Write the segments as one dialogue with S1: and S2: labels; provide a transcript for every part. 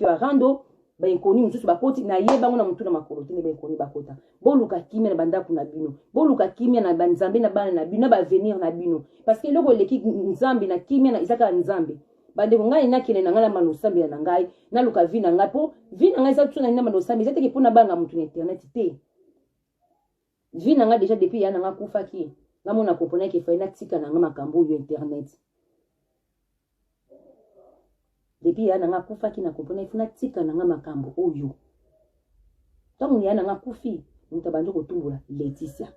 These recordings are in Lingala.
S1: ba rando ba inconnus mususu bakoti na ye bango na mutu na makolo te nde ba inconnus bakota boluka kimia na bandako na bino boluka kimia na banzambe na bana na bino na baavenir na bino parce que eloko eleki nzambe na kimia na eza kaka nzambe bandeko ngai nakende na ngai na mano osambela na ngai naluka vi na ngai mpo vi na ngai eza tuna ngai na mano osambela eza teke mpo na banga moto na internet te vie na nga deja depuis ya na nga akufaki nga mona comprenaki efai natika na nga makambo oyo internet depuis ya na nga akufaki na comprenaki fo natika na nga makambo oyo ntango ya na nga akufi moto abandi kotumbola leticia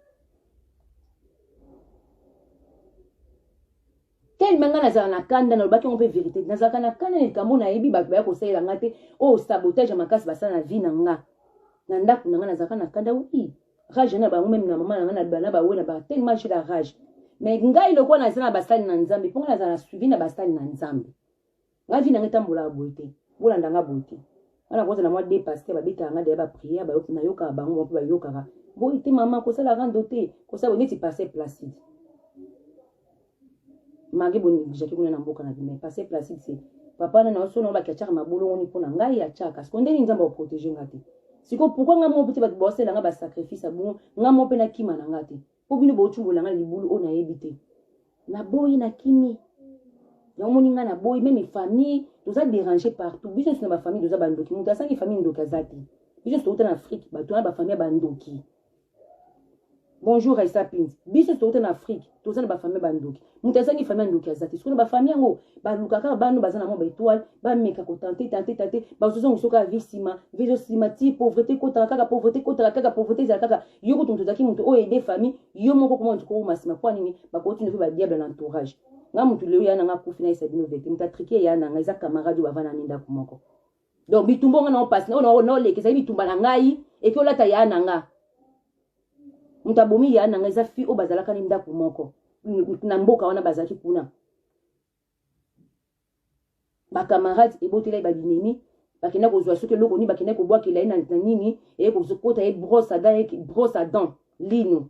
S1: telema ngai nazala na kanda nalobaki yango mpe verité nazalaka na kanda na likambo nayebi bato baya kosalela ngai te oyo oh, sabotage ya makasi basala na vie na nga na ndako na ngai nazalaka na kanda wi rage na bango meme na mama na ngai na bana bawe na ba telema jela rage mais ngai lokola naza na basali na nzambe mpo ngai nazala na suivi na basali na nzambe nga vie na nga etambolaka boye te bolanda nga boye te nga nakoza na mwa de paster babetaka nga deya bapriere nayokaka bango moko bayokaka boye te mama kosala rando te kosala neti paster placide mage boneglijaki kuna na mboka na bima paster placide se papa na na oso na olaki atiaka mabolongoni mpo na ngai atiaka siko ndeni nzambe akoprotege nga te siko pourkui nga moko mpe te bato baosala nga basacrifice ya bongo nga moko mpe nakima na nga te po bino bouti bolanga libulu oyo nayebi te naboyi nakimi yango moni ngai naboyi meme famille toza dérange partout biso nyonso na bafamille toza bandoki moto asangi famille ndoki aza te biso nyonso touta na afrique bato wana bafamille ya bandoki bonjour aisa pins biso nyonso touta na afrique toza na bafamille bandoki moto azangi famille ndoki aza te sikoyo ba famille yango baluka kaka bano baza na mwa ba étoile bameka kotante tante tante bazozonga soki avi nsima vi ezosima ti pauvreté ekotaka kaka pauvreté ekotaka kaka pauvreté ezala kaka yo kutu moto ozalaki moto oyo ede famille yo moko koma moto kokoma nsima mpo nini bakoti ndoki ba diable na entourage nga moto lelo ya nanga akufi na esa bino vete moto atrike ya nanga eza camarade oyo bavana na ndako moko donc bitumba nga nao pasi naoleka ezali bitumba na ngai eki olata ya na nga moto abomi ya na nga eza fi oyo bazalaka ni ndako moko na mboka wana bazalaki kuna bacamarade ebotela ye babinemi bakenda kozwa soki eloko nini bakenda kobwakela ye na nini eye kozokota ye brosse adan lino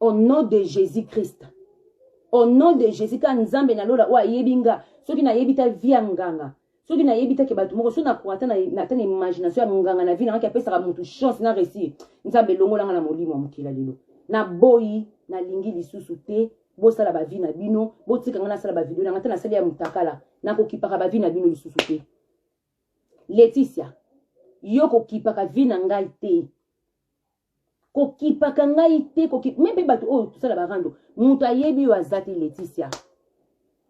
S1: au nom de jésus christ au nom de jésus ka nzambe na lola oyo ayebi nga soki nayebi ta vi ya nganga soki nayebi take bato moko soki nakoka ata na imagination ya nganga na vi nangaki apesaka motu chance na réussir nzambe elongolanga na molimo ya mokila lelo naboyi nalingi lisusu te bosala bavi na bino botika ngai nasala bavideo na ngai ata nasali ya motakala nakokipaka bavi na bino lisusu te leticia yo kokipaka vi na ngai te kokipaka ngai te kokip me mpe bato oyo tosala barando moto ayebi oyo aza te leticia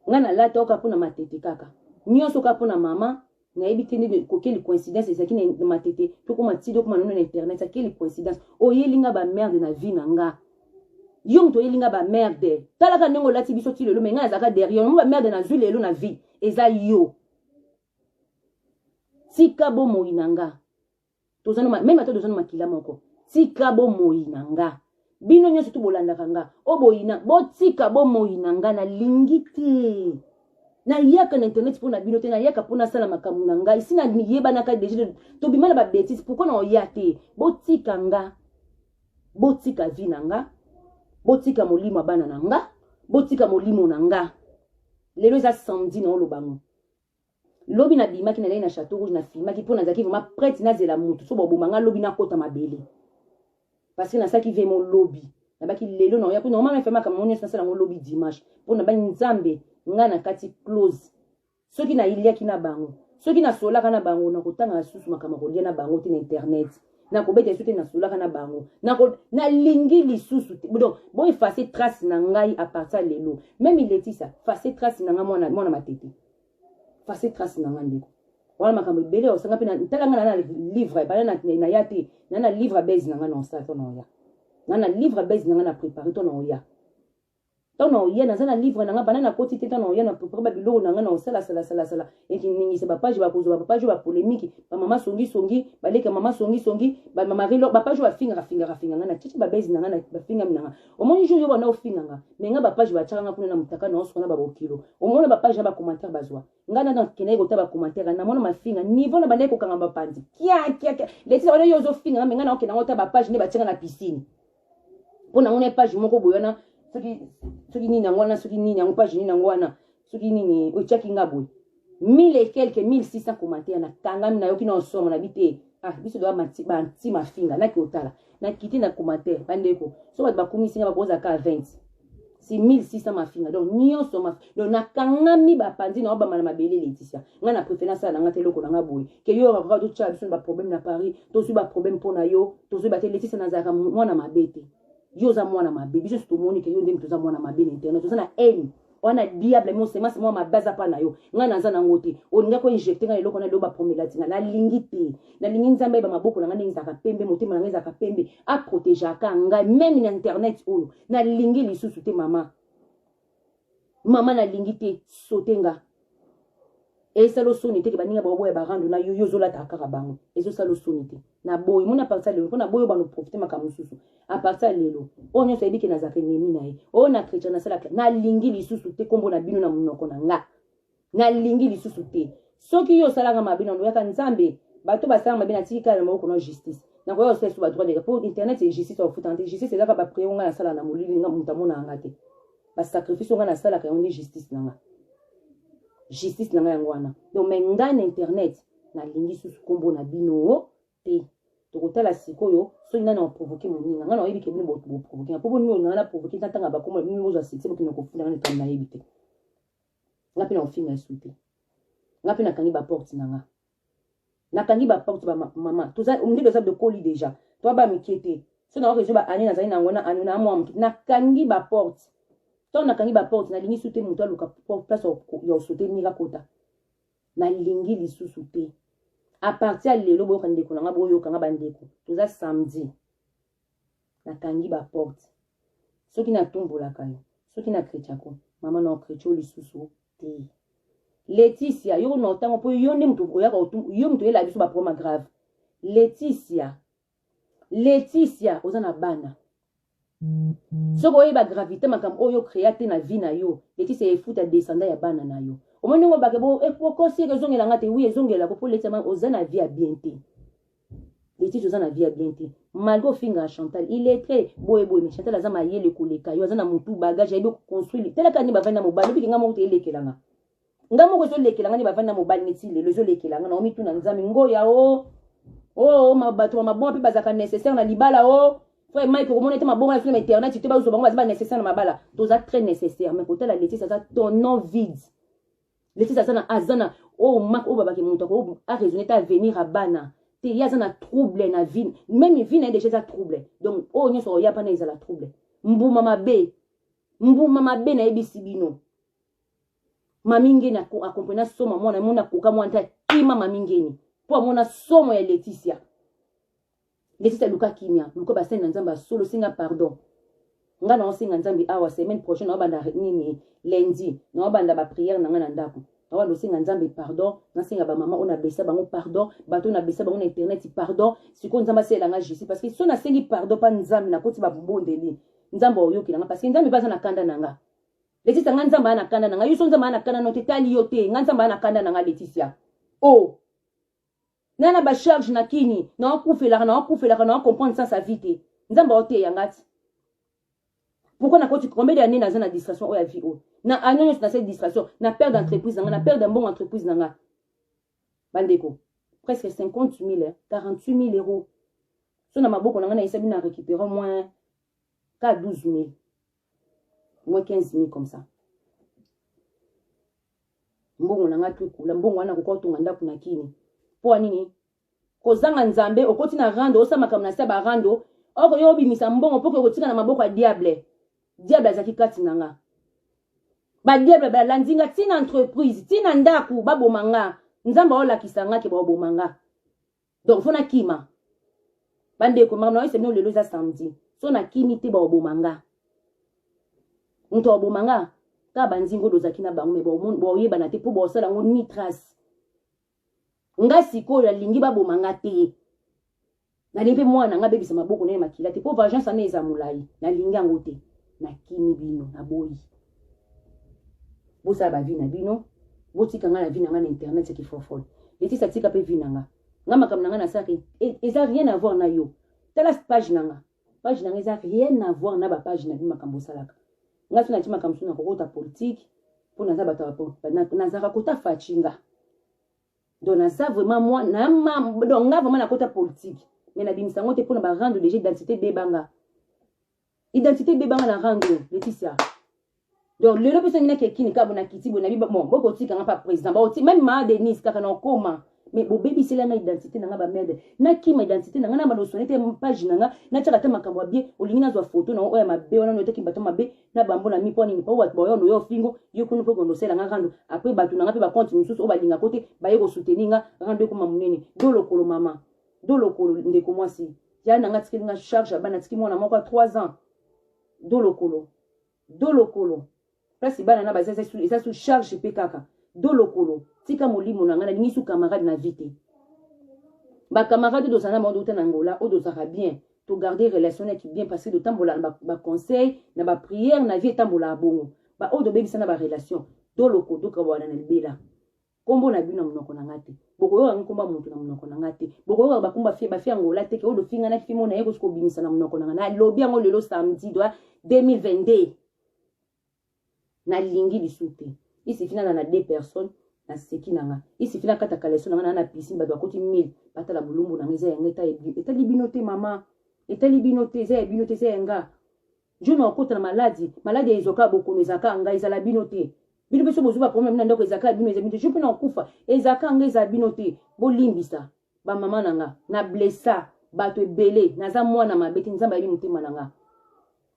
S1: ngai nalata oka mpo na matete kaka nyonso oka mpo na mama nayebi te nde kokeli coïncidence ezalaki na matete tokoma tide okoma nono na internet akeli coïncidence oyeli nga bamerde na vie na nga yo moto oyeli nga bamerde talaka ndenge olati biso ti lelo me ngai azalaka derrière yango bamerde nazwi lelo na vie eza yo tika bomoi na nga toza na meme ata toza na makila moko tika bomoyi na nga bino nyonso tu bolandaka nga o boyina botika bomoyi na nga nalingi te nayaka na internet mpo na bino te nayaka mpo nasala makambo na ngai si nayebanaka deja tobima na babetise pourkui na oya te botika nga botika vi na nga botika molimo ya bana na nga botika molimo na nga lelo eza samedi na olobango Lobi na bimaki na lei na chateau rouge na filmaki mpo nazalaki vraiment prête nazela mutu so boboma nga lobi nakota mabele parce que nasalaki vmo lobi nabaki lelo na oya kuna omama efe makambo yango nyonso nasala yango lobi dimanche mpo nabaki nzambe nga na kati close soki nayiliaki na bango soki nasolaka na bango nakotanga lisusu makambo kolia na bango te na internet nakobeta lisusu te nasolaka na bango nalingi lisusu te donc boefase trace na ngai apartir lelo meme letisa fase trace na ngai mwana matete face trace na nga ndeko wana makambo ebele ya osanga mpe ntala nga na livre bana na ya te na na livre base na nga na osala to na oya na na livre base na nga na prépare to na oya ntango na oya naza na livre na nga bana nakoti te ntango na oya na prépare babiloko na nga na osala salasalasala ekiningisa bapage bakozwa bapage oyo bapolemiki bamama songisongi baleka mama songisongi bamamarilo bapage oyo bafingaka fingaka finga nga na titi babezi na nga na bafingami na nga omoni jour yo banda ofinga nga me nga bapage batyaka nga kuna na motaka na osukana babokilo omona bapage na bacommentaire bazwa nga nana kendaki kota bacommentaire namona mafinga niveau na bandaki kokanga bapanzi kiakiakia letisa wana yo ozofinga nga me nga na okenda ngo ta bapage nde batyanga na piscine mpo nango na page moko boye wana soki nini yango wana soki nini yango page nini yango wana soki nini otyaki nga boye 1000 et quelque 1600 commentaire nakangami nayoki na osomo na bi te ah biso doya banti mafinga naki otala nakiti na commentaire bandeko so bato bakumisi nga bakozala kaka 20 si 1600 mafinga donc nyonso maf donc nakangami bapanzi na obama na mabele leticia ngai na prefere nasala na ngai te eloko na ngai boye ke yo okoka totyela biso na baproblème na paris tozwi baproblème mpo na yo tozwi bate leticia nazalaka mwana mabe te yo oza mwana mabe biso tomoni ke yo nde moto oza mwana mabe na internet oza na haine wana diable mo semence mwa mabe aza mpa na yo ngai naza nango te olingaki oinjecte ngai eloko na eloko bapromelatinga nalingi te nalingi nzambe ayeba maboko na ngai ndenge ezalaka pembe motema na ngai ezalaka pembe aprotegeaka ngai meme na internet oyo nalingi lisusu te mama mama nalingi te sote nga esala osoni te ke baninga baoboya barando na yo yo ozolata kaka bango ezosala osoni te na boyi moni apartir lelo mpo na boyi obano profite makambo mosusu apartir lelo oyo nyonso ayebi ke nazalaka enemi na ye oyo na chrétien nasalaka nalingi lisusu te nkombo na bino na monoko na nga nalingi lisusu te soki yo osalaka mabe na loyaka nzambe bato basala mabe natiki kala na maboko na justice nakoya kosala lisusu badroit deka mpo internet e justice akofutana te justice ezaka bapreo ngai nasala na molili nga moto amonaka nga te basacrifice o ngai nasalaka yango nde justice na nga justice na ngai yango wana donc mai ngai na internet nalingi susu nkombo na bino te tokotala sikoyo soki nani aprovoke moninga ngai nayebi ke bino boprovoke nga mpo boni olinga ngai naprovoke ntatanga bakombo na bino bozwa succès bokende kofunda ngai na nayebi te nga mpe nakofinga esu te nga mpe nakangi baporte na nga nakangi baporte bamama nde toza dokoli deja toa ba mike te so nakoki ezwa baane nazali na yango na ano na mwa moke nakangi baporte ntango nakangi baporte nalingi su te moto aluka place ya osote mira kota nalingi lisusu te apartir ya lelo boyoka ndeko na nga boyoka nga bandeko toza samedi nakangi ba porte soki natumbolaka yo soki na kretiako mama na okretio lisusu te leticia yo na otango mpo yo nde moto oyaka yo moto oyelaka biso baproma grave leticia leticia oza na bana soki oyeba gravité makambo oyo okrea te na vie na yo leticia efuta descendant ya bana na yo omoni ndenge obake bokosi eh, eke ezongela nga te wi ezongelako mpo leticia oza na vie ya bien te Leticia oza na vie ya bien te malgré ofingaka chantal illettré boye boye mais chantal aza mayele koleka yo aza na motu bagage ayebi okoconstruire talaka nde bavandi na mobali obiki ngai moko te elekelanga ngai moko ezolekelanga nde bavandi na mobali neti lelo ezolekelanga na omituna nzambe ngoya o oh. o oh, oh, bato ya mabonga mpe bazalaka nécessaire na libala o oh. frère mike okomona ete mabonga ya fina internet te bazwa bango baza ba nécessaire na mabala toza très nécessaire mais kotala letise aza tonon vide Lexis aza na aza na oyo oh, mak oyo oh, babaki moto ako araisonne te avenir ya bana te ye aza na trouble na vie meme vie na ye deja eza trouble donc oyo oh, nyonso oya mpana ezala trouble mbuma mabe mbuma mabe nayebisi bino mami ngeni akomprena soma mwana mona akoka mwana te akima mami ngeni mpo amona somo ya leticia Lesita luka kimia, luka basali na Nzambe ya solo, senga pardon. Nga na osenga Nzambe awa semaine prochaine na banda nini lundi, na banda ba prière na nga na ndako. Na banda osenga Nzambe pardon, na senga ba maman ona besa bango pardon, bato na besa bango na internet pardon. Siko Nzambe asela nga justice parce que so na sengi pardon pa Nzambe na koti ba bondeli. Nzambe oyoki na nga parce que Nzambe baza na kanda na nga. Leticia nga Nzambe ana kanda na nga, yo so Nzambe ana kanda na te tali yo te, nga Nzambe ana kanda na nga Leticia. Oh nga na bacharge na kini naokufelaka naokufelaka nao comprendre sans sa vie te nzambe aoteya nga ti pourkui nakoti combien de année naza na distraction oyo ya vie oyo na année nyonso nasali distraction na perde entreprise na nga na perde mbongo entreprise na nga bandeko presque 50 000 48 000 euros so na maboko na nga na esabi na récupérant moins ka 12 000 moins 15 000 comme ça mbongo na ngai tukula mbongo wana koka otonga ndako na kini mpo ya nini kozanga nzambe okoti na rando osala makambo na se ba rando oko yo obimisa mbongo mpo kokotika na maboko ya diable diable azalaki kati na nga badiable balandi nga ntina entreprise ntina ndako baboma nga nzambe aolakisa nga ke baoboma nga donc fo nakima bandeko makambo na yo semino lelo eza samedi so nakimi te baoboma nga moto aoboma nga kaka banzingo oyo ozalaki na bango me baoyebana te mpo baosala yango ni trace nga sikoyo nalingi baboma nga te nalingi mpe mwana nga abebisa maboko naye makila te mpo vengeance ana eza molai nalingi yango te nakimi bino naboyi bosala bavi na bino botika ngai na vi na ngai na internet seki fofol letisa tika mpe vi na nga nga makambo na ngai nasalaka e, eza rien avoir na yo tala page na nga page na nga eza rien avoir na bapage na bi makambo osalaka nga so nati makambo so nakokota politike mpo naza bato nazalaka kota faci nga donc naza vraiment mwa donc nga vraiment nakota politike mais nabimisa yango te mpo na barendre déjà identité bebanga identité ebeba nga na rang oyo leticia donc lelo mpe songi nakekini kabo na kiti boye nabi bon bokotika nga mpa président baoti meme maa denise kaka na okoma mais bobebisela nga identité na nga bamede nakima identité na nga na banosone te page na nga natyaka te makambo ya bie olingi nazwa foto na oyo ya mabe wana noyotaki bato mabe na bambo na mi mpo nini mpo bato baoyo noyo ofingo yo kuna mpo kondosela nga rando apres bato na nga mpe bakonte mosusu oyo balingako te baye kosuteni nga rando ekoma monene do lokolo mama do lokolo ndeko mwasi ya na nga atikeli nga charge ya bana atiki mwana moko ya 3 ans do lokolo do lokolo place bana na baza eza su charge mpe kaka do lokolo tika molimo na ngai nalingi su camarade na vie te bacamarade oyo tozala na bango touta na angola oyo tozalaka bien togarde relation naki bien parce que totambola na baconseil na baprière na vie etambolaka bongo baoyo tobebisa na barelation do lokolo tokawana na libela Kombo na bino na munoko na nga te. Bokoyoka ngi kombo ya mutu na munoko na nga te. Bokoyoka ba kumba fie ba fie angola te ke odo finga na fimo na ye ko siko bimisa na munoko na nga. Na lobi yango lelo samedi doit 2022. Na lingi lisu te. Isi fina na na deux personnes na seki na nga. Isi fina kata kaleso na nga na na piscine ba doit koti 1000. Bata la bulumbu na nga eza ya nga eta etali bino te mama. Etali bino te eza ya bino te eza ya nga. John okota na maladi, maladi ya ezoka bokono ezaka nga ezala bino te. Bino biso bozo ba problème na ndako ezaka bino ezala bino. Je peux na okufa ezaka nga ezala bino te. Bolimbisa ba mama na nga na blessa bato ebele naza mwana mabe te nzambe ayebi motema na nga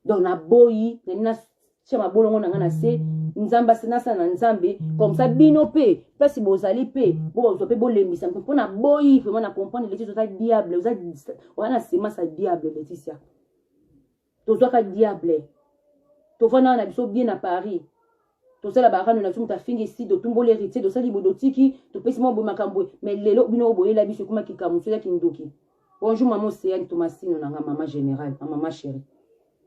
S1: donc naboyi nani natya mabolongo na nga na se nzambe nasala na nzambe comme ça bino mpe place bozali mpe bozwa mpe bolembisa mpe mpo naboyi vraiment na comprendre leticia oza diable oza na semence ya diable leticia tozwaka diable tovanda na biso bien na paris tosala barano na biso moto afingi si totumboli héritier tosali boye totiki topesi mwa boye makambo mais lelo bino oyo boyela biso ekoma kikamu soya kindoki bonjour mama oceane tomasino na nga mama général na mama chéri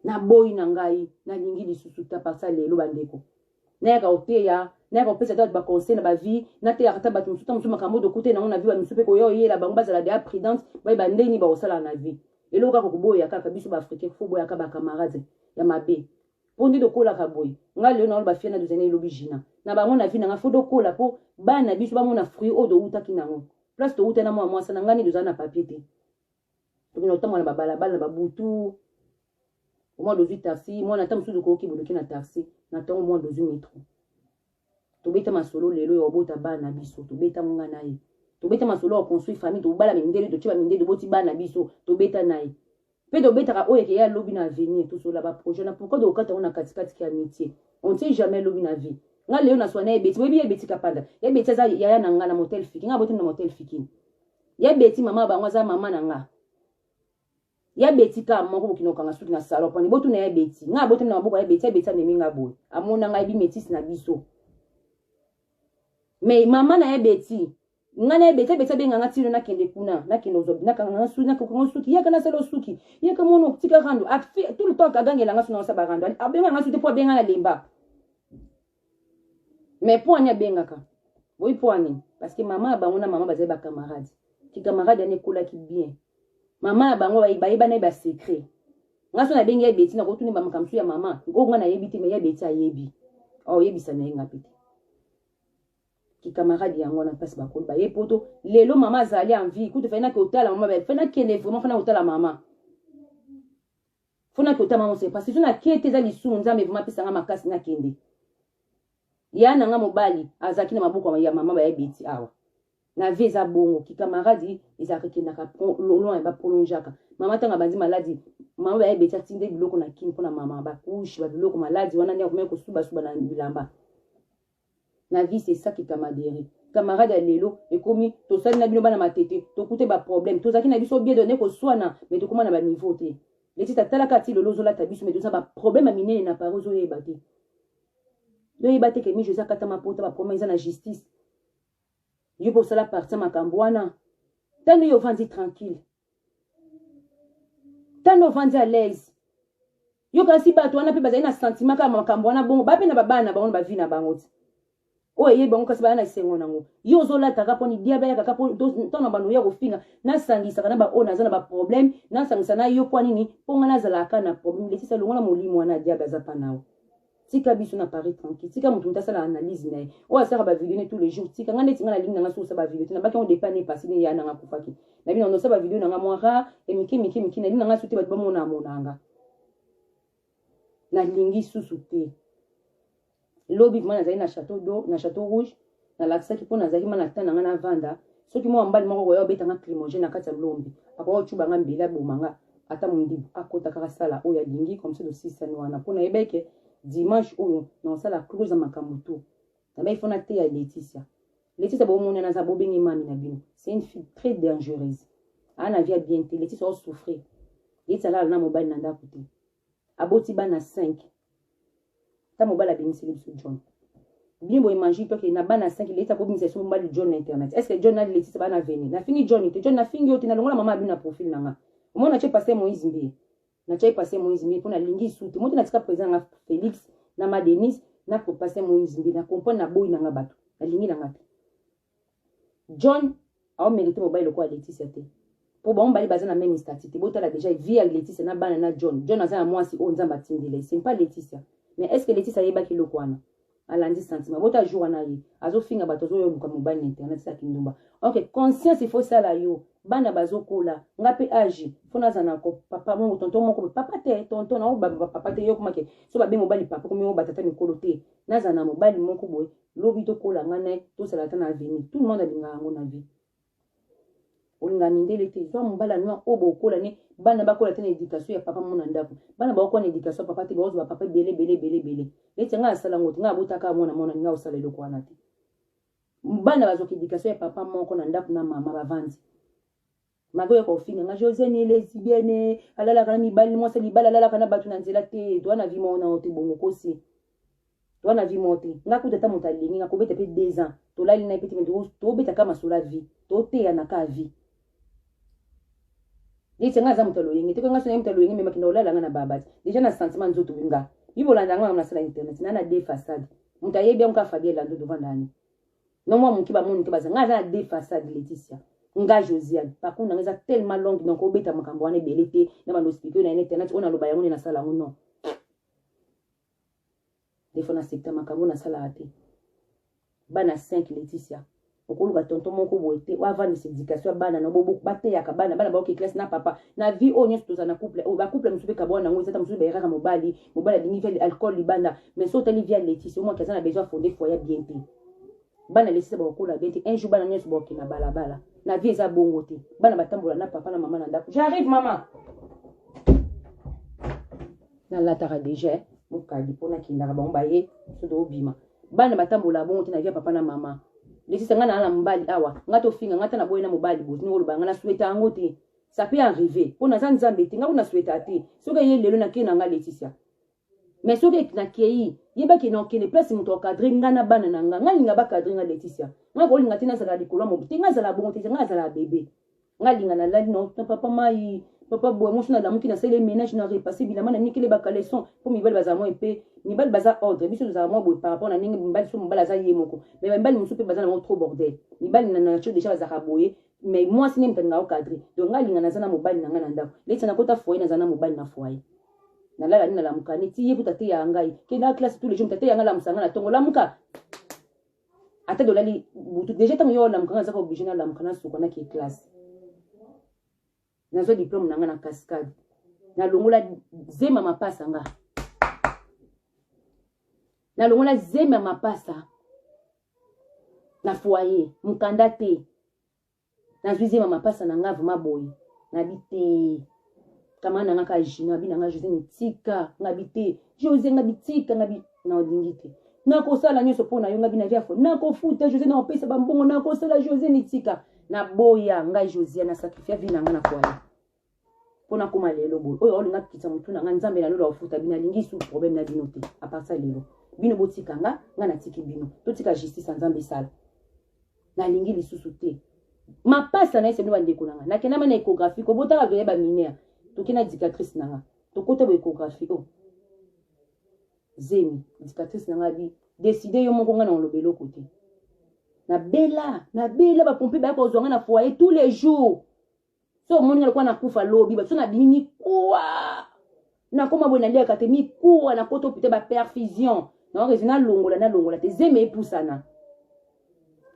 S1: naboyi na ngai nalingi lisusu ta parti ya lelo bandeko nayaka koteya nayaka kopesa ata bato baconseil na bavie nateyaka ata bato mosusu ta mosusu makambo dokute nango na vie bato mosusu mpe koya oyela bango bazala deya prudente bayeba ndenge nini bakosala na vie eloko kaka koboya kaka biso baafricain fo boyaka bacamarade ya mabe mpo nde tokolaka boye ngai lelo naolo bafia na dozene elobi jina na bango na vi na ngai fo dokola mpo bana na biso bamona fruit oyo towutaki nango place towuta na mwa mwasa na ngai nini dozala na papier te tokona kotambola na babalabala na babutu omwana ozwi taxi mwana ata mosusu okoyoki bodoki na taxi na ntongo mwana ozwi metro tobeta masolo lelo ya obota bana na biso tobeta monga na ye tobeta masolo ya construire famille tobala mindele totyeba mindele toboti bana na biso tobeta na ye mpe tobetaka oyo eke ya lobi na avenir tosola baprojet na pourkoi tokokata yango na katikati ya mitie on tie jamais lobi na vie nga lelo na swana ebeti boyebi ye ebeti kapanda ye ebeti aza yaya na nga na motel fiki nga abotami na motel fikini ya beti mama bango aza mama na nga ya beti ka moko bokino kanga suki na salon poni botuna ya beti nga botuna maboko ya beti ya beti amemi nga boye amona ngai bi métis na biso mais mama na ya beti nga na ye beti abeti abenga nga tino nakende kuna nakende ozobi nakanga suki yaka nasala osuki yaka mona otika rando tout le temps agangela nga suna osaba rando abenga nga suki te mpo abenga na lemba mais poani abengaka boyi poani parce que mama ya bango na mama bazali bacamarade kikamarade yani ekolaki bien mama ya bango bayeba na ye basecret nga so nabengi ya beti nakotuni bamakambo so ya mama oyo nga nayebi te me ya beti ayebi aoyebisa na ye nga mpe te kikamarade yango wana mpasi bakoli baye poto lelo mama azali envie kutu fai nakotala mama fai nakende vraiment fai nakotala mama fo na kotama mose parce que na kete eza lisumu nzambe vrema apesa nga makasi nakende ya na nga mobali azalaki na maboko ya mama baya beti awa na vie eza bongo kikamaradi ezalaka ekendaka loin ya baprolongeaka mama ntango abandi maladi mama baya beti atinde biloko na kini mpo na mama bakushe babiloko maladi wana nde akomaki kosubasuba na bilamba na vie c'est ça qui camadere camarade ya lelo ekomi tosali na bino bana matete tokute baproblème tozalaki na biso bie done koswana me tokoma na baniveau te leti tatalaka ti lelo ozolata biso me toza baproblème ya minene na paris ozoyeba te toyeba te ke mijo eza katama pota baproblème eza na justice yo mpe osala parti ya makambo wana ntango yo ovandi tranquille tanda ovandi à l'aise yokanisi bato wana mpe bazali na sentiment kaka makambo wana bongo bape na babana na bango na bavi na bango te oyo eyebi bango kasi baya na esengo nango yo ozolataka mpo nidiaba yakaka mpo ntango na bando oya kofinga nasangisaka na baoyo naza na baproblème nasangisa na yo mpo nini mpo ngai nazalaka na problème lesisa longola molimo wana ya diaba aza mpa na yo tika biso na paris tranquille tika moto moto asala analyse na ye oyo asalaka bavideo ne tous les jours tika ngai neti ngai nalingi nanga soki osala bavideo te nabaki yango depa ne epasi ne ya nanga akufaki nabi nanga nosala bavideo nanga mwa rare e mike mike mike nalingi nanga soki te bato bamona amonanga nalingi susu te lobi vraimen nazali na chateau do na chateau rouge nalakisaki mpo nazalaki mwana ata na ngai navanda soki mwa mbali moko koya obeta nga climogene na kati ya lombi akoya ocuba nga mbeli aboma nga ata mondibu akota kaka sala oyo alingi comme ça tosisani wana mpo nayebaki ke dimanche oyo nakosala close ya makambo tout nabaki fo nateya leticia leticia bomoni naza bobenge mami na bino c'est une fille très dangereuse aa na vie ya bien te leticia osouffrir leticia alala na mobali na ndako te aboti bana 5 ta mobali abimiseli biso john bien boye mangi toke na bana 5 leti akobimisa biso mobali john na internet est ce que john na letisa bana aveni nafingi john te john nafingi yo te nalongola mama abi na profil na nga omona natye paster moïse mbiye natyaki paster moïse mbiye mpo nalingi lisusu te moto natika président nga félix na ma denise na paster moïse mbiye na comprendre na boyi na nga bato nalingi na nga te John au merite mobali lokola Laetitia te. Po bango mibale baza na meme statut te. Botala déjà vie ya Laetitia na bana na John. John aza na mwasi oyo Nzambe atindela ye. C'est pas Laetitia. Mais est-ce que Laetitia ayebaki eloko wana? alandi sentiment bota jour wana ye azofinga bato azoyoluka mobali na internet eza kindumba ok conscience ifo sala yo bana bazokola nga mpe age mpo naza na papa mongo tonton moko papa te tonton naobaba papa te yokomake so babe mobali papa komi batata mikolo te naza na mobali moko boye lobi tokola nga naye tosala ata na avenir tout le monde alingaka yango na vie olinga mindele te zwa mobali ya noir oyo bokola ne bana bakola te na éducation ya papa mona ndako bana bakokola na éducation ya papa te bakozwa bapapa ebele ebele ebele ebele neti ngai asala yango te ngai abotaka mwana mwana ngai osala eloko wana te bana bazwaka éducation ya papa moko na ndako na mama bavandi mako ya kofinga nga jose ni lesbienne alalaka na mibali mwasi libala alalaka na bato na nzela te toa na vi moko na ote bongo kosi toa na vi moko te nga kuta ata moto alingi nga kobeta mpe deux ans tolali na ye mpe te tobeta ka masolo vie toteyana ka vie yete nga aza moto aloyenge te ko nga sonai moto aloyenge me makenda olala nga na babati deja na sentiment nzoto nga bibolanda yango yango nasala internet na na de façade moto ayebi yango ka fabie lando devant nani Non moi moki ba moni te baza nga aza na deux façades Laetitia. Nga Josiane parcours nanga eza tellement longue donc obeta makambo wana ebele te na bando expliquer na internet on aloba yango ne na sala yango non. Des fois na septa makambo na sala te. Bana 5 Laetitia okoluka tonton moko boye te oyo avandisa éducation ya bana na bobo bateyaka bana bana baoke classe na papa na vie oyo nyonso tozala na couple oyo bacouple mosusu mpe kabwana yango eza ta mosusu bayeraka mobali mobali alingi ve alcool libanda mais so otali via letice omaki aza na besoin afonde foye ya bien te bana letice bakokola bien te un jour bana nyonso bakokende na balabala na vie eza bongo te bana batambola na papa na mama na ndako j'arrive mama nalataka deja eh, mokadi mpo nakendaka bango baye so toobima bana batambola bongo te na vie ya papa na mama letice ngai naa na mobali awa ngai tofinga ngai ta na boye na mobali botini koloba ngai na sweta yango te ça peut arriver mpo naza nzambe te ngai kuna sweta te soki eye lelo nake na ngai leticia mais soki nakei yeba ke nakende place moto akadre ngai na bana na ngai ngai linga bakadre ngai leticia ngai kolinga te nazala likolo ya moto te ngai azala bongo te ngai azala bebe ngai linga nalali na papa mai papa boye mosu nalamuki nasali ménage na repasse bilama na nikele bacaleson mpo mibali bazala mwa epe mibali baza ordre biso tozala mwa boye par rapport na ndenge mibali so mobali aza ye moko mais bamibali mosusu mpe baza nango trop bordel mibali na nature déjà bazalaka boye mais mwasi nde moto alingaka okadre donc ngai alinga naza na mobali na ngai na ndako neti nakota foye naza na mobali na foye nalala nini nalamuka neti ye kuta te yaya ngai kenda classe tous les jours tate yanga lamusa ngai na tongo lamuka ata dolali butu deja ntango yo olamuka ngai azaka oblige nalamuka nasuka naki classe nazwa diplome na ngai na cascade nalongola zema mapasa nga nalongola zema mapasa na foyer mukanda te nazwi zema mapasa na nga vrema boye nabi te kama na nga ka jino abi na nga jose mitika ngabi te jose ngabi tika ngabi na olingi te nakosala nyonso mpo na yo ngabi na viafo nakofuta jose nakopesa bambongo nakosala jose mitika naboya ngai josia na sacrifia vi na nga na foyer mpo nakoma lelo boye oyo aolinga kokitisa motu na ngai nzambe na lelo akofuta bino alingi su problème na bino te aparsa lelo bino botika nga ngai natiki bino totika justice ya nzambe esala nalingi lisusu te mapasa na ye sebino bandeko na ngai nakendama na écographie kobotaka veye baminere toke na dictatrice na ngai tokota bo écographie o oh. zemi dictatrice na ngai abi deside yo moko ngai na oloba eloko te nabela nabela bapompe baya kozwa ngai na foyer tous les jours so omoni nga lokola nakufa lobi babiso nabimi mikuwa nakoma boye naliaka te mikuwa nakota opita baperfusion naorezo nalongola nalongola te zeme epusana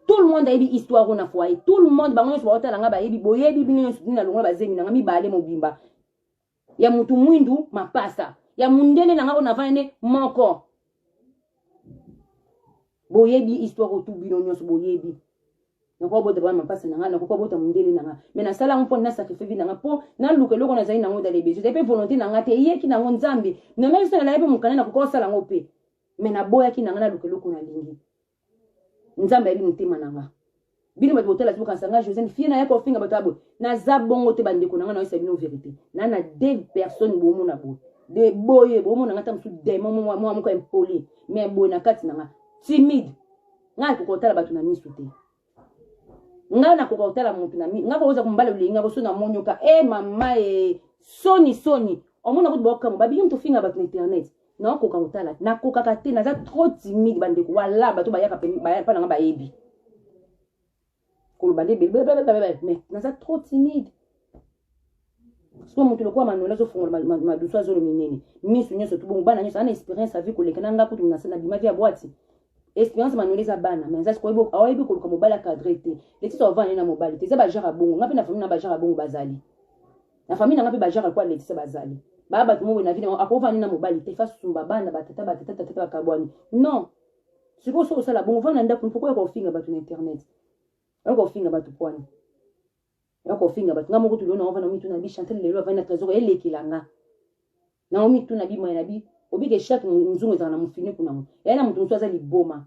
S1: tout le monde ayebi histoire oyo na foyer tout le monde bango nyonso baotala nga bayebi boyebi bino nyonso nini nalongola bazemi nanga mibale mobimba ya mutu mwindu mapasa ya mundele na nga onavana ne moko boyebi histoire otu bino nyonso boyebi nakoki kobota bana mapasa na ngai nakoki kobota mondele na ngai mai nasala yango mpo nasakrifie vi na ngai mpo naluka eloko nazali nango dale bezo ezali mpe volonté na ngai te eyeki nango nzambe nomeki so nalaki mpe mokanda nakoki kosala yango mpe mai naboyaki na ngai naluka eloko nalingi nzambe ayebi motema na nga bino bato botala bokanisa nga josene fie na ya kofinga bato ya boye naza bongo te bandeko na nga nayosa bino verité na na de personne bomona boye de boye bomona nga ta mosusu demon mwa moko impoli mais boye na kati na nga timide nga ekokotala bato na miso te nga na koka otala mutu na mi nga koza kumbala lulenga ko sona monyo ka eh mama eh soni soni omona kutu boka mo babiki mutu finga batu na internet na koka otala na koka ka te naza trop timide bande ko wala batu bayaka pe baya pa nga bayebi ko bande be be be be mais naza trop timide sikoyo moto lokola manola azofongola madusu azolo minene miso nyonso to bongo bana nyonso ana experience avi koleka na nga kutu nabimaki ya bwati experience manola eza bana mais aza sikoyo ayebi koluka mobali acadre te letisa ovandi na mobali te eza bajare ya bongo nga mpe na famille na bajare ya bongo bazali na famille na nga mpe bajare lokola letisa bazali baa bato moko na vi nango akovandi na mobali te fasumba bana batata batata tatata bakabwani non sikoyo soki osala bongo vanda ndako mpo koya kofinga bato na internet oya kofinga bato pwani ya kofinga bato nga moko tulo na ovanda mituna bi chantel lelo avandi na trésor elekela nga na omituna bi moye na bi obike chaque nzungu ezalaka na mofiniku nango eya na moto mosusu aza liboma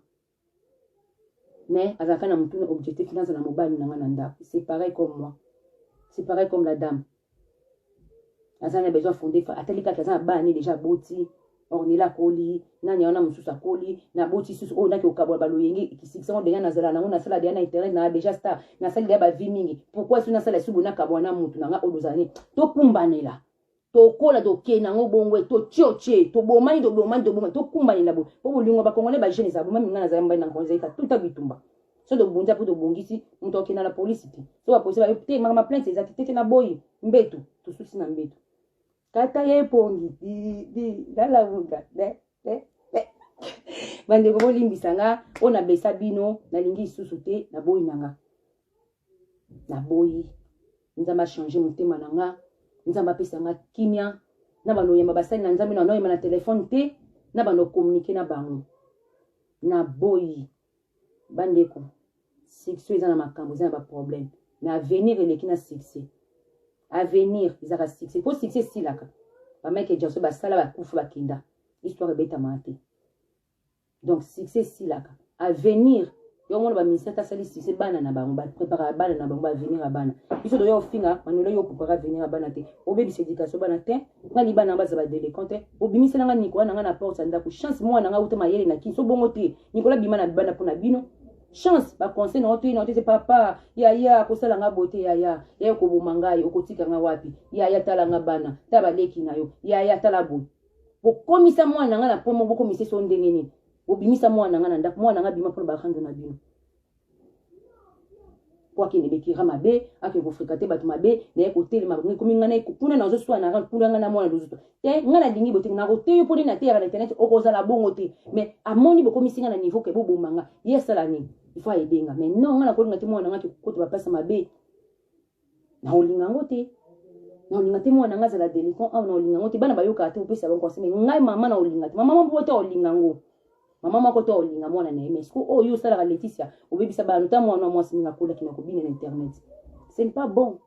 S1: mais azalaka na motuna objectif naza na mobali na nga na ndako c'est pareil comme moi c'est pareil comme la dame aza na besoin fonde atali kaka aza na bana ne déjà aboti ornela akoli nani wana mosusu akoli naboti susu oyo naki okabola baloyenge kisikisa ngo deja nazala nango nasala deja na internet na deja star nasali deja bavie mingi pourkui su nasala subo nakabola na motu na nga oyo bozala nini tokumbanela tokola tokei nango bongo e, totiotie tobomani tobomani tobomani tokumbanela boye mpo bolingo bakongole bajeune ezala bomami nga nazala mbali na nkongo ezalika tuta bitumba so tobunza mpo tobongisi moto akenda na polisi te so bapolisi bayo te makama plainte ezaki te te na boyi mbetu tosusi na mbetu kata ye pongi didi lalamuka de de de bandeko bolimbisa nga oyo nabesa bino nalingi lisusu te naboyi na nga naboyi nzambe achange motema na nga nzambe apesa nga kimia na bando oyamba basali na nzambe na bando oyamba na telefone te na bando okomunike na bango naboyi bandeko succès eza na makambo eza na baproblème mais avenir eleki na succès avenir ezalaka succès mpo succès esilaka bamike jaso basala bakufa bakenda histoire ebetamaka te donc succès esilaka avenir yo mona baministre ata asali succès bana na bango bapreparaka bana na bango baavenir ya bana biso toya ofinga manola yo opreparaka avenir ya bana te obebisa éducation bana te nga libana yango baza badelecon te obimisela nga nikola na nga na porte ya ndako chance mwana nga uta mayele na kinso bongo te Nicolas bima na libanda pona bino chance ba conseil na otoyi na otoyi papa yaya akosala nga bote yaya yaya okoboma ngai okotika nga wapi yaya tala nga bana ta baleki na yo yaya tala boye bokomisa mwana na ngai na mpo moko bokomisa eso ndenge nini bobimisa mwana na ngai na ndako mwana na ngai bima mpona barando na bino po akende bekira mabe akende kofrekate bato mabe naye kotelema bango ekomi ngai naye kuna na ozoswa na ran kuna ngai na mwana lozuto te ngai nalingi bote nakoteyo mpo nde nateyaka na internet okozala bongo te mais amoni bokomisi ngai na niveau ke boboma nga ye asala nini ifo ayedenga mais non ngai nakolinga te mwana ngai akekokota bapasa mabe Na olinga yango te. Na olinga te mwana nga zala delinquant awa na olinga yango te. Bana bayoka te opesa bango conseil mais ngai mama na olinga te. Mama moko to olinga yango. Mama moko to olinga mwana na ye mais ko oyo oh, osalaka Laetitia obebisa bana ta mwana wa mwasi mingi akolaki na kobina na internet. Ce n'est pas bon.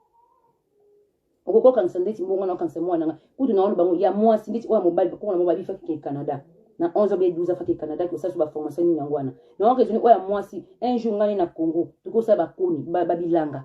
S1: Okoki kokangisa ndeti mbongo na okangisa mwana nga kutu na wana bango ya mwasi ndeti oyo ya mobali bakoko na mobali bifaki ke Canada. na 11 be 12 afaki canada ki osalisa baformation nini yango wana naoka ezoni oyo ya mwasi un jour ngai na congo tokosala bakoni babilanga ba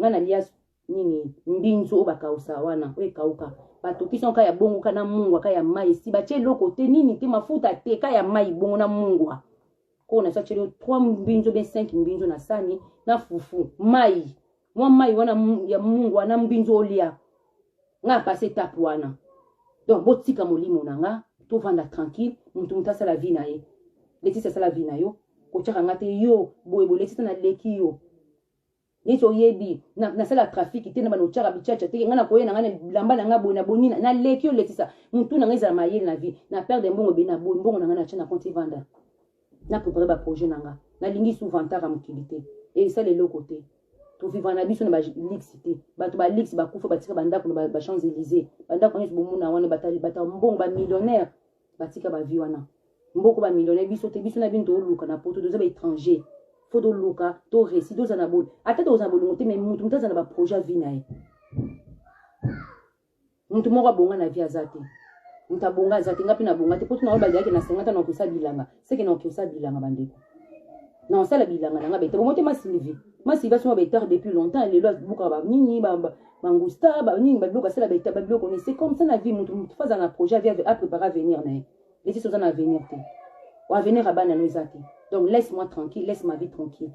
S1: nga na lia nini mbinzu oyo bakausa wana oyo ekauka batokisi yango ka ya bongo ka na mungwa ka ya mai esi batye eloko te nini te mafuta te ka ya mai bongo na mungwa oyo na sacelo 3 mbinzo be 5 mbinzo na sani na fufu mai mwa mai wana ya mungu wana mbinzo olia nga apase etape wana donc botika molimo na nga tovanda tranquille motu motu asala vie na ye letisi asala vie na yo kotyaka nga te yo boye boye letisi naleki yo neti oyebi nasala na trafiki te na bana otyaka bichacha te ngai nakoye na ngai na bilamba na ngai boye na bonina naleki olekisa motu na ngai ezala mayele na vie na perde mbongo ebele na boye mbongo na ngai natya na konti evanda na prépare baprojet na ngai nalingi souvantaka mokili te esala eloko te tovivra na biso na balix te bato balix bakufa batika bandako na bachamps élysée bandako nyonso bomona wana bata mbongo bamillionnaire batika ba vie wana mboko ba millionnaire biso te biso na bino toluka na poto toza ba étranger fo toluka to resi toza na boni ata toza na bolingo te mais mutu mutu aza na baprojet vie na ye mutu moko abonga na vie aza te mutu abonga aza te nga mpe nabonga te mpo tuna oyo bazalaki na sengata na kosa bilanga seke na okiosala bilanga bandeko na osala bilanga na nga bete bomote ma sylvie ma sylvie asoma betare depuis longtemps lelo abukaka banini bangusta banini babiloko asala beta babiloko nini c'est comme ça na vie motu motu faza na projet avi aprépare avenir na ye lesi soza na avenir te avenir ya bana no eza te donc laisse moi tranquille laisse ma vie tranquille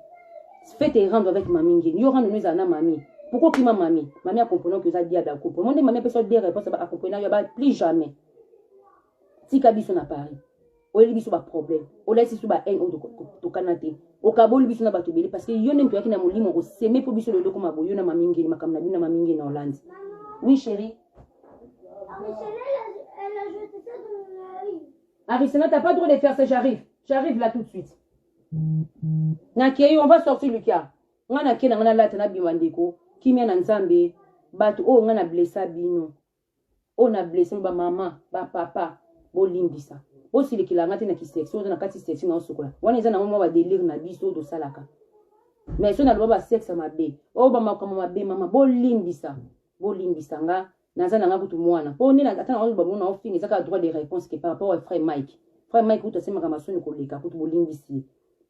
S1: fete erendre avec mami ngeni yo rendre no ezala na mami pourquoi okima mami mami akomprena oki oza diable akomprena monde mami apesa yo de réponse akomprena yo ba plus jamais tika biso na paris oyeli biso baproblème olakisi biso bahaine oyo tokana te okaboli biso na bato ebele parce que yo nde moto oyaki na molimo okoseme mpo biso lelo okoma boyo na mamingeli makambo na bino na mamingeli na hollande oui chéri
S2: Arisena, t'as pas droit
S1: de faire ça, j'arrive. J'arrive là tout de suite. Nakei, on va sortir Lucas. Nga nakei na nga na lata na bima ndeko. Kimia na nzambe. Bato oyo nga na blessa bino. oyo na blesse ba mama ba papa bolimbisa bosilikila nga te na kiseksi oza na kati seksi na osokola wana eza nango mwa badelire na biso oyo tosalaka mais so naloba basexe mabe oyo bamakambo mabe mama bolimbisa bolimbisa nga naza na nga kutu mwana mpo nde ata na oloba mona ofinga eza kaka droit de réponse ke par rapport ya frère mike frère mike kutu asemaka masoni koleka kutu bolimbisi ye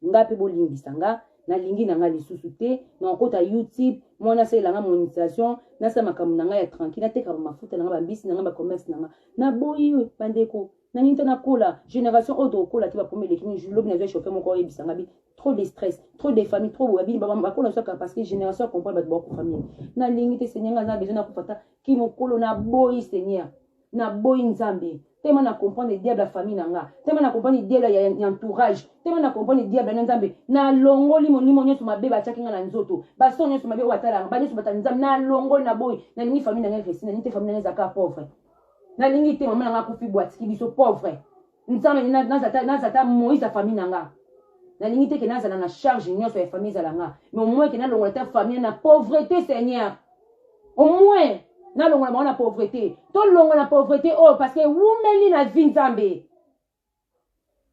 S1: nga pe bolimbisa nga nalingi na nga lisusu te nakokota youtube mwa nasalela nga monisation nasala makambo na nga ya tranquille nateka bamafuta na nga bambisi na nga bacommerce na nga naboyi bandeko nani te nakola génération oyo tokokola te bakomi eleki ni lobi nazwa chauffe moko oyebisa nga bi trop de stress trop de famille trop boya bini bakola saka parce que génération ya comprendre bato bakufa mingi nalingi te seigneur nga aza besoin nakufa ta ki mokolo naboyi seigneur na boyi nzambe tellement na comprendre diable ya famille na nga tellement na comprendre diable ya, ya entourage tellement na comprendre diable na nzambe nalongoli molimo nyonso mabe batiaki nga na nzoto baso nyonso mabe oyo batalanga banyonso batala nzambe nalongoli na boyi nalingi famille na nga efesi nalingi te famille na nga ezaka pauvre nalingi te mama na nga akufi bwatiki biso pauvre nzambe naza ata moïse ya famille na nga nalingi te ke nazala na charge nyonso ya famille ezala nga mais omoin ke nalongola ta famille na pauvreté seigneur omoin nalongola bango na pauvreté tolongola na pauvreté oyo oh, parce que ewumeli na vi nzambe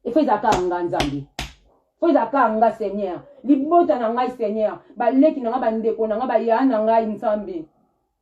S1: efo ezalaka nga nzambe fo ezalaka nga seigneur libota na ngai seigneur baleki na ngai bandeko na ngai bayaya na ngai nzambe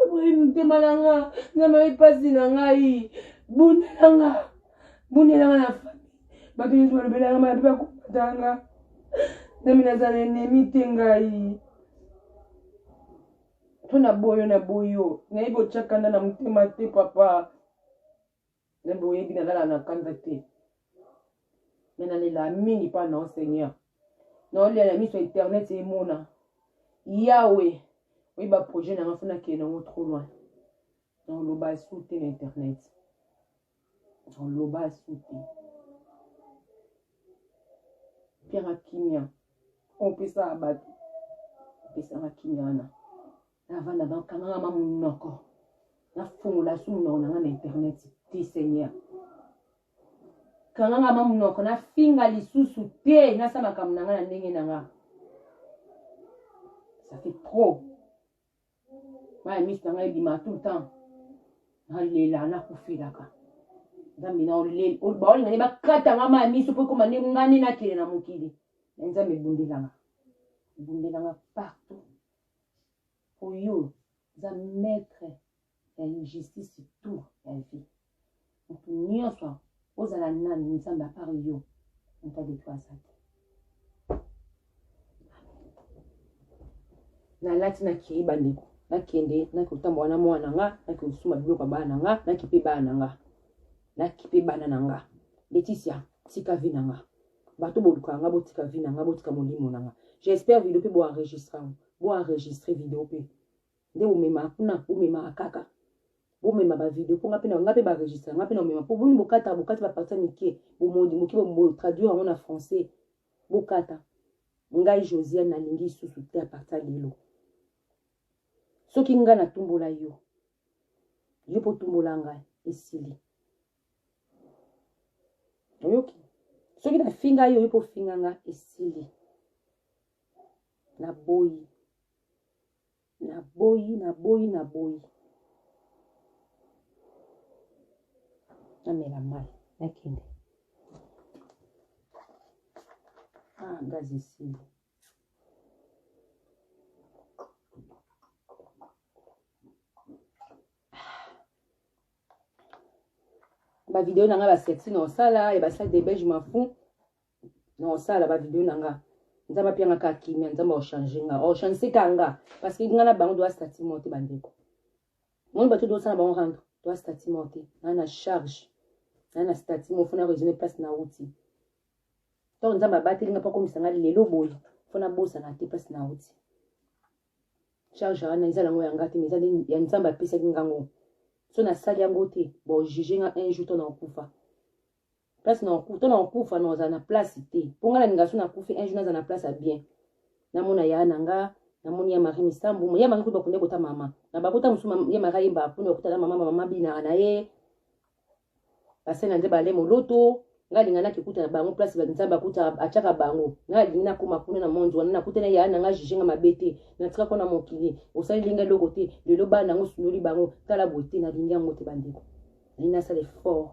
S1: oboyi motema na nga na mayi mpasi na ngai bundela nga bundela nga na fami bato nyonso balobelaka maya mpe bakombata nga nami naza na enemi te ngai mpo na boyo na boyo nayebi otyaka nda na motema te papa Nani boyebi na lala na kanza te. Mais na lela mingi pa na Seigneur. Na olia ya miso internet emona. Yahweh, oui ba projet na ngafuna ke na trop loin. Na loba soute na internet. Na loba soute. Pierre Kimia. On peut ça abattre. On peut ça Kimia na. navanda bakanganga ma munoko nafungola su munoko nanga na internet te seigneur kanganga ma munoko nafinga lisusu te nasa makambo nanga na ndenge nanga ça fait trop maya miso nanga ebima tout le temps nalela nakufelaka nzambe na oleli baolinga nde bakata nga maya miso mpo ekoma nde nga nde nakele na mokili na nzambe ebundelanga ebundelanga partout Oyo za maître ya injustice tout ya vie. Mutu nyonso ozala nani nzambe à part yo moto adetwa aza te. Nalati nakei bandeko nakende nakotambola na mwana na nga nakosuma biloko ya bana na nga nakipe bana na nga nakipe bana na nga leticia tika vi na nga bato bolukaka nga botika vie na nga botika molimo na nga j'espère video mpe boenregistre yango boenregistre video mpe nde bomemaka kuna bomemaka kaka bomema bavideo mpo nga mpe nga mpe baregistre nga mpe na omema mpo boni bokata bokati baparti ya mike bomodi moke botraduire yango na français bokata ngai josiane nalingi lisusu te aparti ya lelo soki ngai natumbola yo yo mpo otumbola ngai esili oyoki soki nafinga yo oyebi ofinga nga esili naboyi naboyi naboyi naboyi namela mai nakende ah gazi esili ba video na nga ba sexy na osala ya ba salle de belge mafu na osala ba video na nga nzambe apianga ka kimia nzambe ochange nga ochange ka nga parce que nga na bango doa stati mo te bandeko moni bato dosala bango rando doa stati mo te naa na charge naa na stati mo fona resume place na wuti ntango nzambe abateli nga mpo akomisa nga lelo boye mpo nabosana te place na wuti charge wana eza nango ya nga te mais eza nde ya nzambe apesaki nga ngo so nasali yango te bojuge nga un jour to na kokufa place na to na kokufa na ozala na place te mpo nga nalinga so nakufi un jour naza na place ya bien namona ya na nga namoni ya marie misambu ya marie kuba kunde kota mama na bakota mosusu ya marie ayemba kuna okutana mama mama binaka na ye basali na nzambe ale moloto ngai alinga nakikuta na bango place nzambe akuta atyaka bango ngai alingi nakoma kuna na monzi wana nakuta na yaya na ngai juge nga mabe te natika kuna mokili osaleli ngai eloko te lelo bana nango osundoli bango tala boye te nalingi yango te bandeko nalingi nasala effort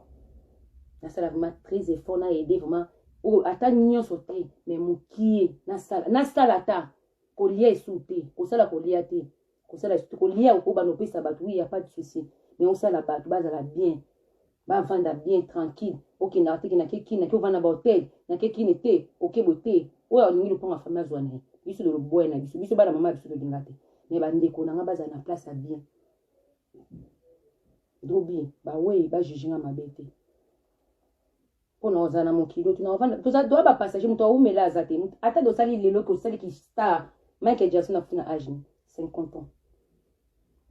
S1: nasala vraiment très effort na aide vraiment oyo ata nyonso te mais mokie nasala nasala ata kolia esu te kosala kolia te kosala surtout kolia okoba na opesa bato oui ya pas de souci mais osala bato bazala bien bavanda bien tranquille okendaka te kenake kini nake ovanda ba hotel nake kini te okebo te oyo alingi lopanga fami azwa na ye biso loloboya na biso biso bana mama ya biso tolinga te mais bandeko na ngai bazala na place ya bien Dobi, ba weyi ba juge nga mabe te. Pona ozala na mokili oyo tunavanda toza doa ba passager moto awumela aza te ata dosali lelo ke osali ki star Michael Jackson akufi na age 50 ans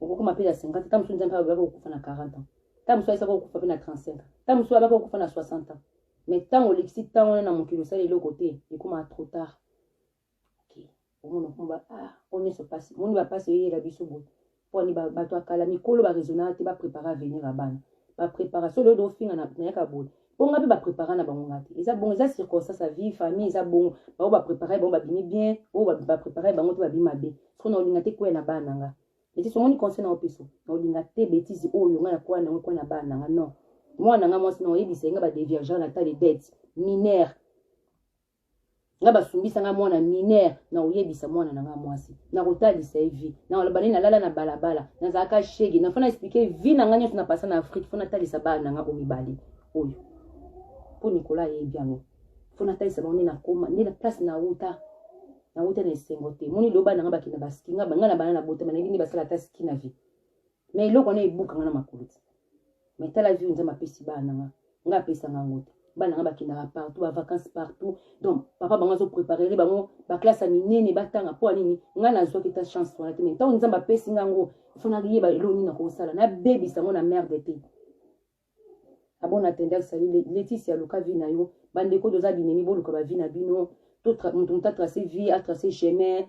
S1: okokoma mpe na 50 ta mosusu nzambe abaki kokufa na 40 ans ta mosusu ayesaki kokufa mpe na 35 ans ta mosusu abaki kokufa na 60 ans mais ntango olekisi ntango wana na mokili osali eloko te ekomaka trop tard Okay. Omona mpo ba ah oyo nyonso mpasi moni bampasi eyela biso boye mpo ani bato ya kala mikolo baresonaka te baprépare avenir ya bana baprépara so lelo ofinga nayaka boye mpo ngai mpe baprépara na bango ngai te eza bongo eza circonstance ya vie famille eza bongo bango baprépara bango babimi bien oyo baprépara bango te babimi mabe soko na olinga te kwea na bana na ngai betise omoni conseil na opesa na olinga te betise oyo ngai nakwea na yango kwea na bana na ngai non mwana na ngai mwasi na oyebisa ye ngai badeviagea na ta de dette minere nga basumbisa nga mwana mineur na koyebisa mwana na nga mwasi na kotalisa ye vie na koloba nini nalala na balabala nazalaka shege na fona explike vie na nga nyonso na pasa na afrike fona talisa bana na nga omibale oyo mpo nikola ayebi yango fona talisa bango nde nakoma nde na place na wuta na wuta na esengo te moni loba na nga bakenda baski nga nga na bana na botama nayebi nde basala ata ski na vie mais eloko wana ebuka nga na makolo ti mais tala vie nzambe apesi bana na nga nga apesanga yango te bana nga bakendaka partout bavacance partout donc papa bango azopreparere bango baklasse ya minene batanga mpo ya nini ngai nazwaki ta chance wana te mai ntango nzambe apesi nga yango ifo nayeba eloko nini nakosala nabebisa yango na merde te abon atendaki sali letisi ya luka vi na yo bandeko toza binemi boluka bavi na bino moto moto atrace vie atrace chemin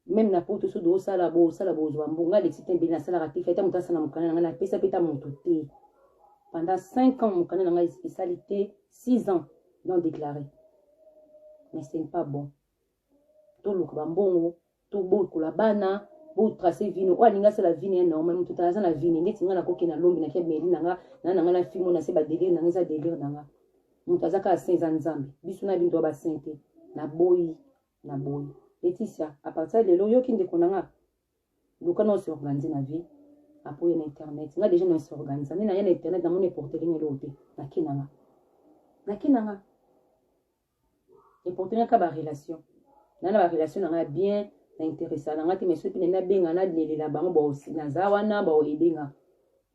S1: meme na poto soki osala bosala bozwa mbo nga alexi te mbeli nasalaka te feta moto asala mokanda na ngai napesa mpe ta moto te pendant 5 ans mokanda na ngai esali te 6 ans non déclaré mais ce n'est pas bon toluka bambongo tobokola bana botrace vino oyo alingi asala vino ya normal moto tala aza na vino ndeti ngai nakoki na lombi nake meli na nga na na ngai na fimo na se badelire na ngai eza delire na nga moto aza kaka saint eza nzambe biso na binto ya basaint te naboyi na boyi Laetitia à partir ya lelo yoki ndeko na nga luka na ose organise na vie apo ye na internet nga déjà na ose organise nde na ye na internet na moni eporteli nga eloko te na ke na nga na ke na nga eporteli nga ka ba relation na na ba relation na nga bien na interesa na nga te mais soki nende abenga na lelela bango bao naza wana bao ebenga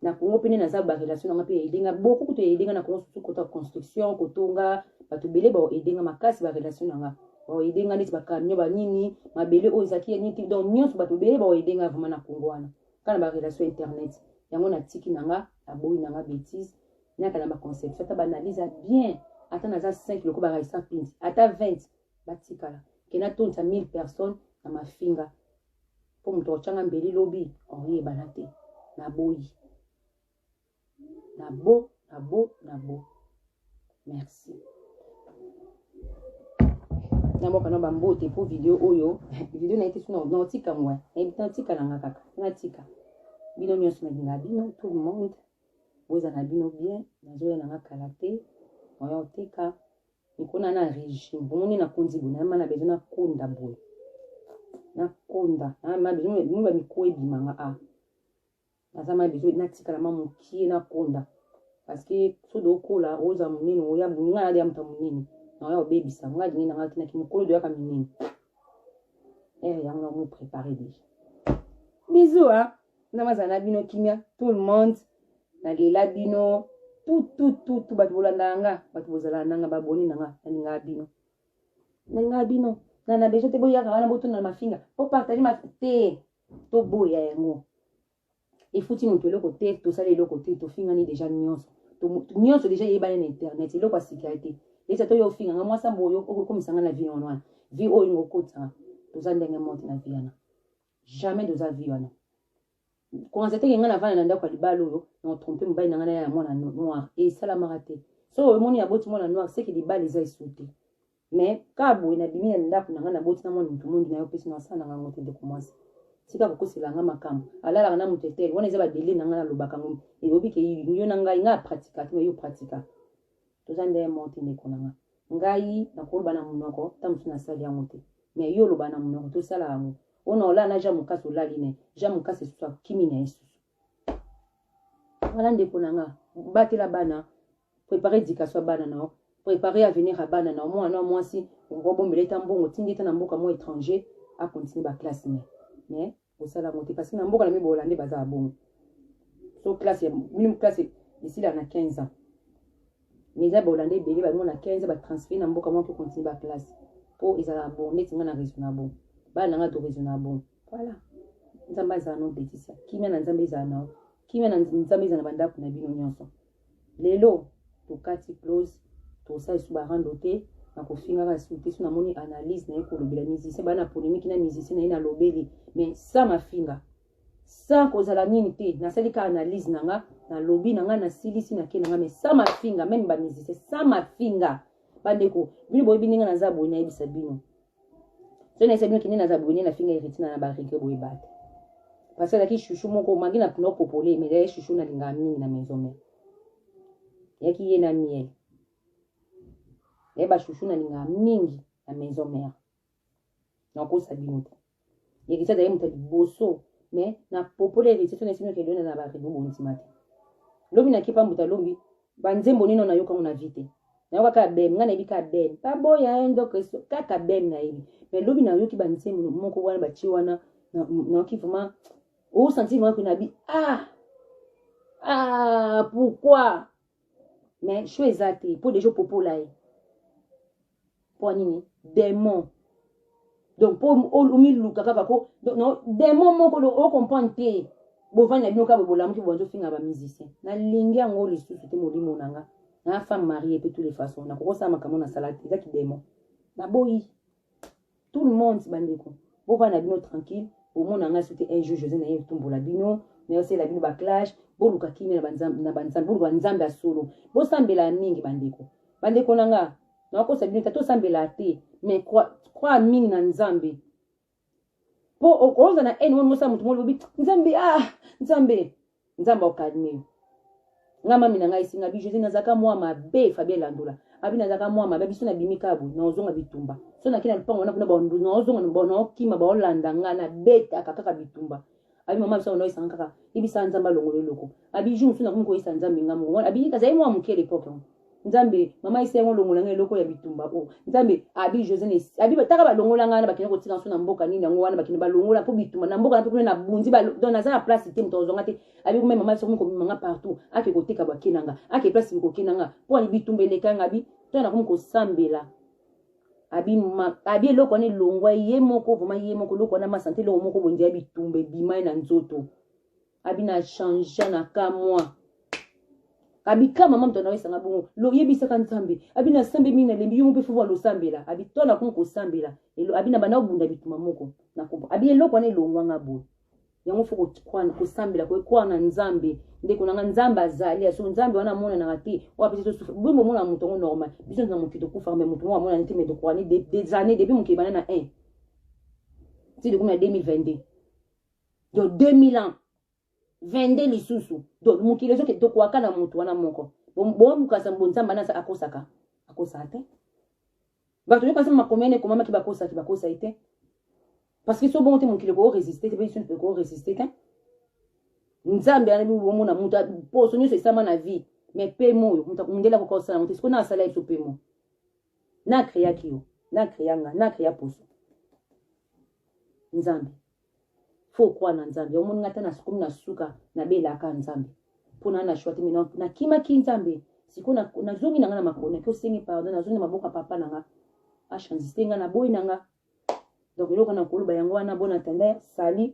S1: na congo mpe nde naza barelation na nga mpe ya edenga boko kutu ya edenga na congo susu kota construction kotonga bato ebele bao edenga makasi barelation na nga bao edenga neti bacamion banini mabele oyo ezalaki ya nini donc nyonso bato ebele bao edenga vraimen na congo wana kaka na barelation internet yango natiki na nga naboyi na nga betise naka na baconception ata baanalyse ya bien ata naza 5 loko baraisa pinti ata 20 batikala kena tonisa 1000 personnes na mafinga mpo moto akotya nga mbeli lobi okoyebana te naboyi nabo nabo nabo merci naboka na bambote mpo video oyo video naye te so naotika ngwa nayebi te natika na nga kaka natika bino nyonso nalinga bino tout le monde boza na bino bien nazoya na nga kala te oya oteka Nikona na regime bomoni na konzi boye nayema na bezo na konda boye na konda nayema bezo bino ba mikuwa ebima nga a ah. naza ma bezo natikala ma mokie na konda parce que soki okola oza monene oya bolingo na ya moto monene na oya obebisa nga alingi na nga kinaki mokolo doyaka minene ere eh, yango na mo prépare déjà bisous hein na bazala na bino kimia tout le monde na lela bino tout tout tout tout bato bolandaka nga bato bozalaka nanga baboni na nga nalingaka bino nalingaka bino na na besoin te boyaka wana botuna na mafinga bopartage ma te toboya yango efuti moto eloko te tosala eloko te tofingani deja nyonso nyonso deja eyebani na internet eloko ya sika te eza to yo ofinga nga mwasi ambo oyo okomisa nga na vie wana wana vie oyo ingokotisanga toza ndenge moko te na vie wana jamais doza vie wana commence teke ngai navanda na ndako ya libala oyo na trompe mobali na ngai na ya mwana noir esalamaka te so omoni aboti mwana noir seke libala eza esu te mais kaka boye nabimi na ndako na ngai naboti na mwana moto mondi na yo mpesi na asala na ngai yango te ndeko mwasi tika kokosela ngai makambo alalaka na moto etele wana eza badele na ngai nalobaka ngo eyobi ke yo na ngai ngai apratika te yo pratika toza nde moko te ndeko na nga ngai nakoloba na monoko ta mosusu nasali yango te mais yo oloba na monoko tosala yango ona olala na jean mokasi olali na ye jean mokasi esusu akimi na ye susu wana ndeko na nga batela bana prépare éducation ya bana na yo prépare avenir ya bana na yo mwana ya mwasi obombela eta mbongo tindi eta na mboka mwa étranger akontinue baklasse na ye mais kosala yango te parce que na mboka na mimi bahollandais baza ya bongo so classe ya minimum classe esila na 15 ans mais eza bahollandais ebele bango na 15 batransfere na mboka moko continue baclasse mpo ezalaka bon neti ngai na raison na bon bana na ngai to raison na bon voilà nzambe azala no betisa kimia na nzambe ezala na yo kimia na nzambe ezala na bandako na bino nyonso lelo tokati close tosala lisusu barando te na kofingaka lisusu te so namoni analyse na ye kolobela musicien baa na polémique na musicien na ye nalobeli mais sa mafinga sa kozala nini te nasali ka analyse na nga nalobi na nga nasilisi na ke na nga mais sa mafinga meme bamusicien sa mafinga bandeko bino boyebi ndenge naza boye nayebisa bino so na esabi kende na zabone na finga heritina na barike boye bate parce azalaki chouchou moko mangi na pino popole mais ezalaki chouchou na lingaka mingi na maison mère yaki ye na miel yaye bachouchou na lingaka mingi na maison mère nakosa bino te Heritier azali moto ya liboso me na popole heritier so nayesi noki elona na baribo bondima te lobi na kipa mbuta lobi banzembo nino nayoka yango na vi te nayoka kaka bem ngai nayebi kaka bem baboya ye ndoko eso kaka bem nayebi me lobi nayoki banzembo moko wana batie wana nayoki vraiment osanti vraiment mpe nabi ah ah pourquoi me sho eza te mpo deja opopola ye mpo nini demon donc mpo omiluka kaka ko no demon moko ocomprendre te bovandi na bino kaka bolamuki bobandi ofinga bamusicien nalingi yango lisusu te molimo na nga na femme marie mpe tous les façons nakokosala makambo nasala te eza kidemon naboyi tout le monde bandeko bovanda na bino tranquille bomona ngai soki un jour josé naye etumbola bino nayosela bino baclash boluka kimia na banzambe boluka nzambe ya solo bosambela mingi bandeko bandeko na nga nakosa bino ta tosambela te mais croire mingi na nzambe mpo okozala na haine moni mosala moto molobi nzambe ah nzambe nzambe au calme yo nga mami na ngai esinga bi josé nazalaka mwa mabe fabien landola abi nazalaka mwa mabe biso nabimi kaka boye naozonga bitumba so nake na lupango wana kuna bandu naozonga naokima baolanda nga nabetaka kaka bitumba abi mama biso naoyesanga kaka yebisa nzambe alongolo eloko abi jour mosusu nakomi koyesa nzambe nga moko abi kazali mwa moke lepoke yango nzambe mama ese yango olongola nga eloko ya bitumba o oh. nzambe abi josene abi bataka balongola nga wana bakende kotika nso na mboka nini yango wana bakende balongola mpo bitumba na mboka nape kuna na bunzi don naza na place te moto azonga te abi kome mama ese komi komema nga partout ake koteka bwake na nga ake place bikokenda nga mpo ani bitumba eleka nga abi to nakomi kosambela abi ma abi eloko wana elongwa ye moko vraimen ye moko eloko wana masante eloko moko bondia bitumba ebimai na nzoto abi na changea na ka mwa abi ka mama moto anawesanga bongo loyebisaka nzambe abi na sambe mingi nalembi yo mpe fo alosambela abi to nakomi kosambela abi na banda obunda bituma moko na kompo abi eloko wana elongwanga boye yango fo kosambela koekwa na nzambe ndeko nanga nzambe azali aso nzambe wana amonanaka te oyo apesi tosufa boye bomona moto yango normal biso na mokili tokufaka me moto moko amonani te me tokoani des années depuis mokili bana na 1 ti tokomi na 2022 do 2000 ans 22 lisusu do mokili ezoke tokwaka na moto wana moko bomukasa bonzamba nasa akosaka akosaka te bato yoka se makomi ane ekomamaki bakosaki bakosaki te parce que so bongo te mokili ekoo resiste te mpe biso ekoo resiste te nzambe anabi bomona moto poso nyonso esama na vie mais pema oyo moto akundela koka osala yango te sikoyo na asala ye biso pema na akreaki yo na akrea nga na akrea poso nzambe Faux croix na Nzambe. Omoni nga ata na komi na suka na bela ka Nzambe. Pona na choix te mais na kima ki Nzambe. Siko na, na zongi na nga na makona ki osengi pardon na zongi na maboka papa na nga. A change te nga na boyi na nga. Donc eloko na koloba yango wana bon attendant sali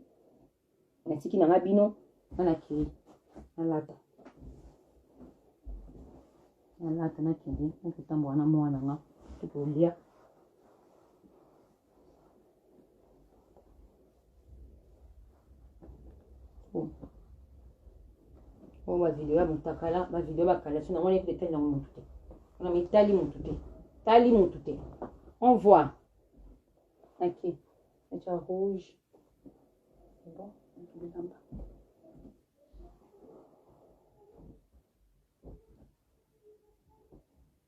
S1: na tiki na nga bino nga na kei na lata. Na lata na kende na kotambola na mwana nga. Tukolia. oyo bavideo ya motakala bavideo ya bakalasi nango nayebite etali nango motu te wana mitali motu te tali motu te on voit ok eca rouge bon bilamba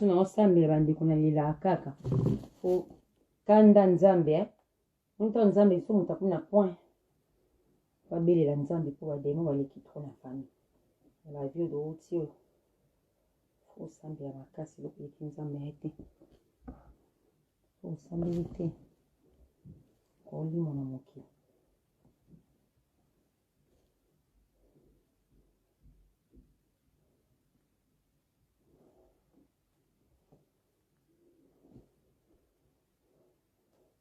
S1: naso naosambela bandeko na lelaka kaka po kanda nzambe eh? Mutu ya nzambe il faut mutu akomi na point po abelela nzambe po ba demon baleki trop na famille na ba vie oyo outi oyo faut osambela makasi eloko eleki nzambe na ye te po osambeli te olimwa na mokili